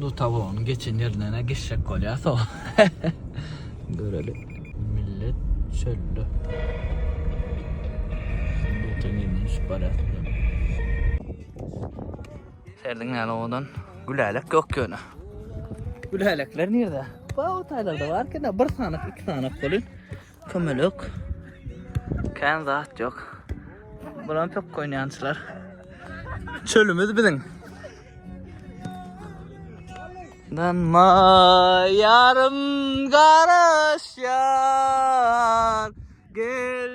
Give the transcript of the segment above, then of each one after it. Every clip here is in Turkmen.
Lutawonyň geçen ýerinden-ä geçjek bolýas o. Göreli. Millet çölde. Luta nemünçip barýas bilemok. Serdiň näme owadan? Gülälek ýok ýöne. Gülälekler nirde? Ba o taýlarda barken-ä bir sanyk, iki sanyk bolýar. Kömelek. Kän zat ýok. Bulam pökk oýnaýançylar. Çölümiz biziň. Danma ýarym garaşýar. Gel.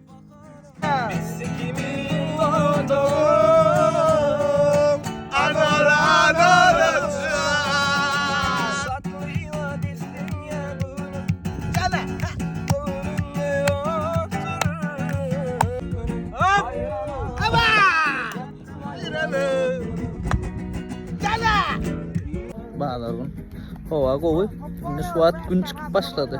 Bazar gün. Hava gowy. Indi şu wagt gün çykyp başlady.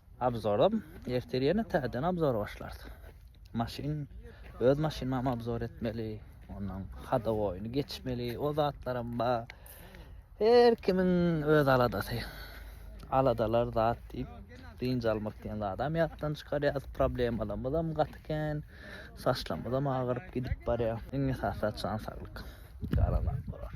Abzoram ertir ýene täzeden abzor başlarys. Maşyn öz maşynymam abzor etmeli. Ondan hadowoýyny geçmeli. O zatlaram bar. Her kimiň öz aladasy. Aladalar zat diýip dynç almak diýen zadam ýatdan çykarýas. Problemalarymyzam gaty kän. Saçlarymyzam agyryp gidip barýar. Iň esasy zat jan saglyk. Galan zatlar.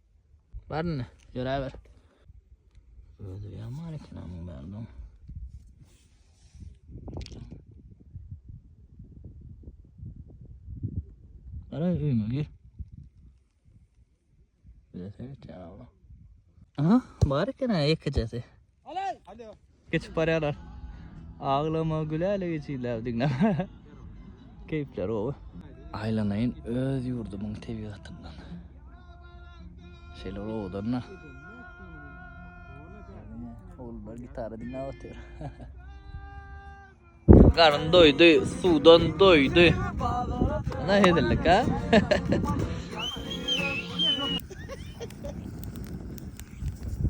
Bar indi, ýöräber. Özi ýaman eken amyň bärden. Ara öýüme gir. Bize seyret ya Allah. Aha, bar eken ha ekicesi. Geçip barýarlar. Aglama güläle geçýärler diňläp. Keýpleri gowy. Aýlanaýyn öz ýurdumyň tebigatyndan. Şeýle owadan-da. Ogullar gitara diňläp otyr. Garyn doýdy, suwdan doýdy. Ana hezillik ha.